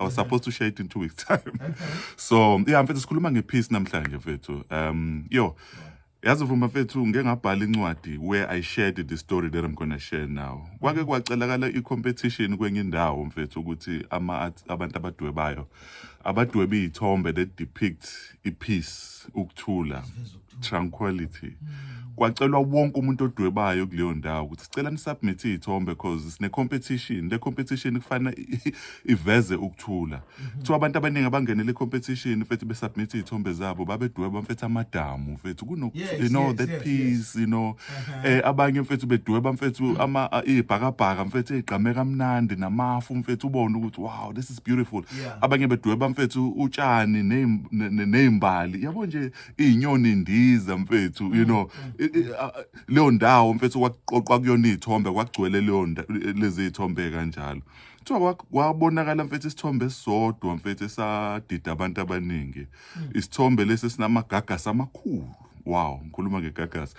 I was supposed to share it in two weeks time. so yeah mfethu sikhuluma ngepeace namhlanje mfethu. Um yo yazi vuma mfethu ngeke ngabhala incwadi where I shared the story that I'm going to share now. Kwake kwacelakala i-competition kwenye indawo mfethu ukuthi ama abantu abadwebayo abadweba izithombe that depict ipeace ukuthula. tranquility kwacelwa wonke umuntu odwebayo kuleyo ndawo ukuthi sicela nisubmit iy'thombe cause sine-competition le competition kufanele i- iveze ukuthula kuthiwa abantu abaningi abangenele i-competition mfethu besubmit iy'thombe zabo babedweba mfethu amadamu mfethu kuno Yes, you know yes, that yes, peace you know eh abanye mfethu bedweba mfethu ama a- iy'bhakabhaka mfethu ey'gqame kamnandi namafu mfethu ubone ukuthi wow this is beautiful Yeah. abanye bedweba mfethu utshani ney'm- ne- ne- ney'mbali yabo nje izinyoni ndiza mfethu you know i- i- a- a- leyo ndawo mfethu kwaqoqwa kuyona izithombe kwagcwele leyo nda- lezi zithombe kanjalo kuthiwa kwa- kwabonakala mfethu isithombe esisodwa mfethu esadida abantu abaningi isithombe lesi sinamagagasi amakhulu wow ngikhuluma ngegagasi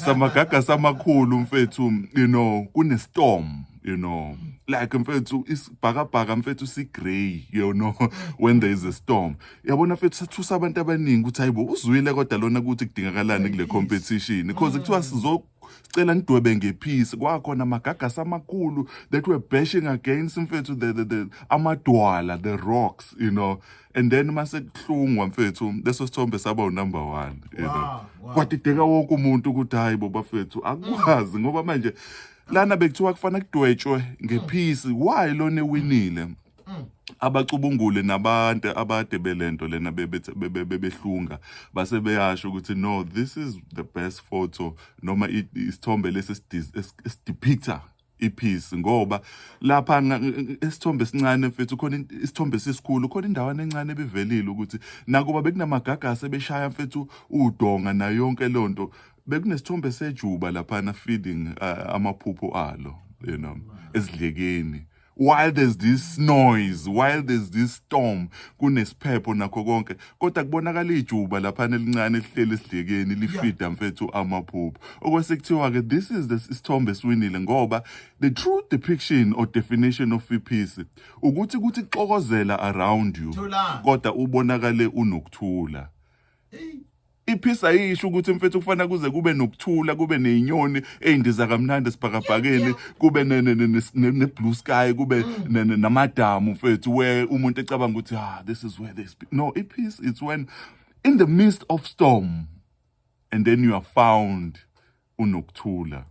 samagagasi amakhulu mfethu you know kunestorm you know like mfethu isibhakabhaka mfethu sigrey you know when there is a storm yabona fethu sathusa abantu abaningi ukuthi hayibo uzwile kodwa lona ukuthi kudingakalani kule competition because kuthiwa sizo sicela nidwebe ngephisi kwakhona amagagasi amakhulu that were bashing against mfethu the, the, the amadwala the rocks you know and then mase kuhlungwa mfethu leso sithombe saba unumber 1 you know wow, wow. kwadideka wonke umuntu ukuthi hayi bo bafethu akwazi ngoba manje lana bekuthiwa kufanele kudwetshwe ngephisi why lona ewinile mm. abacubungule nabantu abade belento lena bebehlunga base beyasho ukuthi no this is the best photo noma isithombe lesi esidepicta ipiece ngoba lapha isithombe esincane mfethu khona isithombe sisikhulu khona indawana encane ebivelile ukuthi nakuba bekunamagagasi ebeshaya mfethu udonga nayo yonke lonto bekunesithombe sejuba lapha na feeding uh, amaphupho alo you know esidlekeni while there's this noise while there's this storm kunesiphepho nakho konke kodwa kubonakala ijuba laphana elincane elihleli esidlekeni lifida mfethu amaphupho okwesekuthiwa ke this is the isithombe esiwinile ngoba the true depiction or definition of peace ukuthi kuthi xokozela around you kodwa ubonakale unokuthula iphisa yisho ukuthi mfethu kufanele kuze kube nokuthula kube nezinyoni ezindiza kamnandi esibhakabhakeni kube ne-blue sky kube namadamu mfethu where umuntu ecabanga ukuthi ah this is where they speak no ipeace it's when in the midst of storm and then you are found unokuthula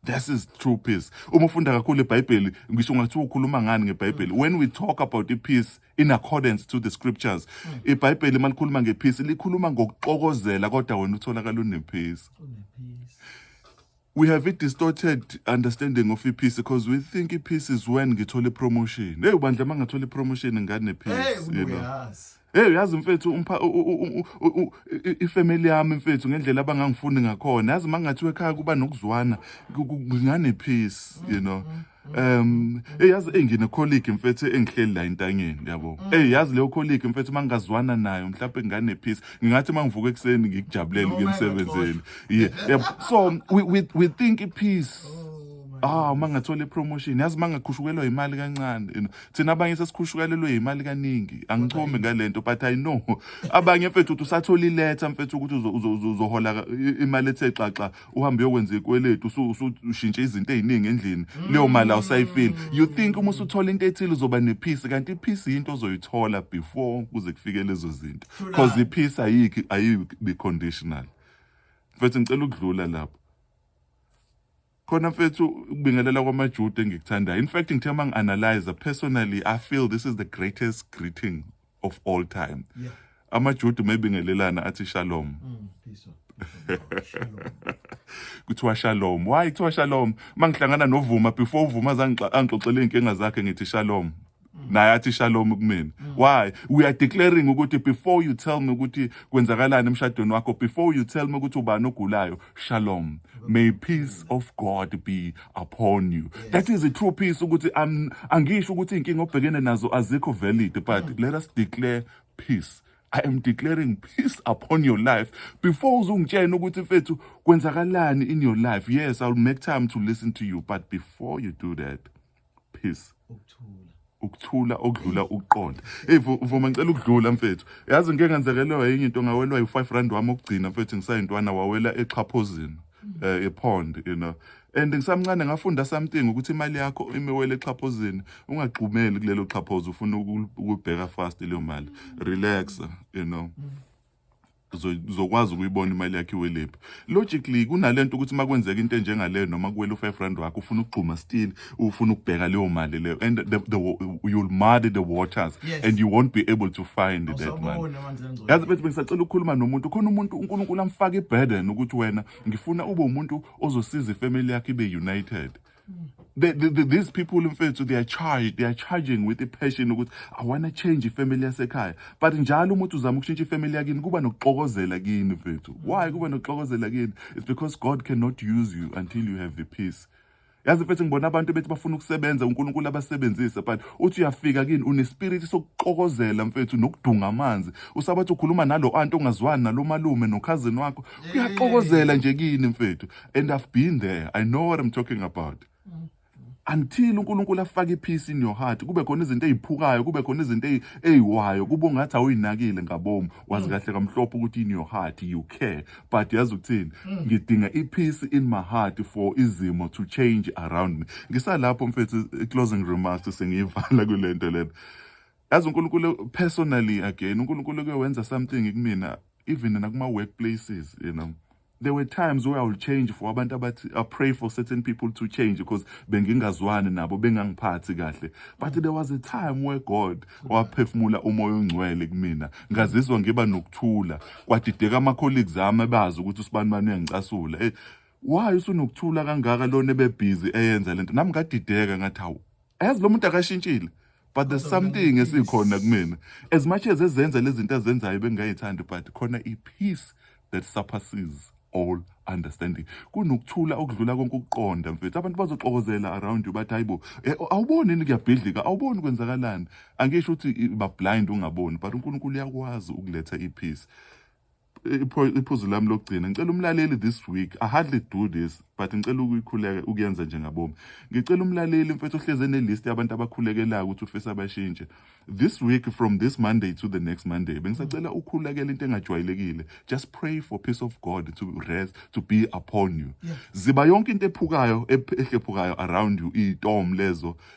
This is true peace. Uma ufunda kakhulu iBhayibheli, ngisho ungathi ukhuluma ngani ngeBhayibheli. Mm. When we talk about the peace in accordance to the scriptures, mm. iBhayibheli malikhuluma ngepeace, likhuluma ngokuxokozela kodwa wena utholakala unepeace. We have a distorted understanding of ipeace because we think ipeace is when ngithola ipromotion. Hey bandla mangathola ipromotion ngane peace, you know. Hey uyazi mfethu umpha ifamily yami mfethu ngendlela abangangifuni ngakhona yazi mangathiwe ekhaya kuba nokuzwana ngane peace you know Um eyazi engine colleague mfethu engihleli la intangeni yabo. Mm. Hey yazi leyo colleague mfethu mangazwana nayo mhlawumbe ngane peace. Ngingathi mangivuka ekseni ngikujabulele ukuya emsebenzini. Yeah. Yabo. So we we we think peace. Oh, ah uma ngathola ipromotion yazi uma ngakhushukelwa imali kancane you know thina abanye sesikhushukalelwe yimali kaningi angichomi ngalento but i know abanye mfethu uthi usathola iletha mfethu ukuthi uzohola imali ethe xaxa uhambe uyokwenza ikweletu usushintshe izinto eziningi endlini mm. leyo mali awusayifili you think uma usuthola into ethile uzoba nepeace kanti ipeace yinto ozoyithola before kuze kufike lezo zinto because ipeace ayikho ayibi conditional mfethu ngicela ukudlula lapho khona mfethu ukubingelela kwamajuda engikuthandayo in fact ngithe uma ngi-analyze personally i feel this is the greatest greeting of all time yeah. amajuda uma ebingelelana athi shalom mm, kuthiwa shalom why kuthiwa shalom uma ngihlangana novuma before uvuma zangixoxela iy'nkinga zakhe ngithi shalom naye athi shalom kumina why we are declaring ukuthi before you tell me ukuthi kwenzakalani emshadweni wakho before you tell me ukuthi ubani ogulayo shalom may peace of god be upon you that is a true peace ukuthi I'm- angisho ukuthi inkinga obhekene nazo azikho valid but let us declare peace I am declaring peace upon your life. Before uzungitshena ukuthi mfethu kwenzakalani in your life. Yes, I'll make time to listen to you, but before you do that, peace ukuthula ukuthula okudlula ukuqonda hey vuma ngicela ukudlula mfethu yazi ngeke ngenzekelwa yinye into ngawelwa u5 rand wami okugcina mfethu ngisayintwana wawela exhaphozini eh epond you know and ngisamncane ngafunda something ukuthi imali yakho imiwele exhaphozini ungagxumeli kulelo xhaphozo ufuna ukubheka fast leyo mali relax you know uzokwazi ukuyibona imali yakhe iwelephi logically kunalento ukuthi uma kwenzeka into enjengaleyo noma kuwela u-five rand wakho ufuna ukugxuma still ufuna ukubheka leyo mali leyo and the, the, you'll muddy the waters yes. and you won't be able to find oh, that money yazi bethi bengisacela ukukhuluma nomuntu khona umuntu unkulunkulu amfake iburden ukuthi wena ngifuna ube umuntu ozosiza ifamily yakhe ibe united The, the, the, these people mfethu they are charged they are charging with i-passion ukuthi i want to change ifamily yasekhaya but njalo umuntu uzama ukushintsha ifamily yakini kuba nokuxokozela kini mfethu why kuba nokuxokozela kini it's because god cannot use you until you have the peace yazi mfethu ngibona abantu bethi bafuna ukusebenza unkulunkulu abasebenzise but uthi uyafika kini unespiriti sokuxokozela mfethu nokudunga amanzi usabathi ukhuluma nalo anti ongazwani nalo malume nokhazini wakho kuyaxokozela nje kini mfethu and i've been there i know what i'm talking about until uNkulunkulu afake ipeace in your heart kube khona izinto eziphukayo kube khona izinto eziwayo kube ngathi awuyinakile ngabomu wazi mm. kahle kamhlophe ukuthi in your heart you care but yazi ukuthini mm. ngidinga ipeace in my heart for izimo to change around me ngisalapho mfethu closing remarks sengiyivala kulento lena yazi uNkulunkulu personally again uNkulunkulu kuyowenza something kumina even nakuma workplaces you know there were times where I would change for abantu abathi I pray for certain people to change because bengingazwani nabo bengangiphathi kahle but there was a time where God waphefumula umoya ongcwele kumina ngazizwa ngiba nokuthula kwadideka ama colleagues ami abazi ukuthi usibani bani uyangicasula hey eh, why usunokuthula kangaka lona ebebhizi eyenza lento nami ngadideka ngathi hawu ayazi lo muntu akashintshile but there's something esikhona kumina as much as ezenza lezi zinto azenzayo bengingayithandi but khona i-peace that surpasses all understanding kunokuthula okudlula konke ukuqonda mfethu abantu bazoxokozela around you bathi hayibo eh, awuboni ni kuyabhidlika awuboni kwenzakalani angisho ukuthi bablind ungaboni but uNkulunkulu uyakwazi ukuletha ipeace iphuzu lami lokugcina ngicela umlaleli this week i hardly do this but ngicela ukuyikhuleka ukuyenza njengabomi ngicela umlaleli mfethu ohlezi enelist yabantu abakhulekelayo ukuthi ufisa bashintshe this week from this monday to the next monday bengisacela ukhulekela into engajwayelekile just pray for peace of god to rest to be upon you ziba yonke into ephukayo ehlephukayo around you itom lezo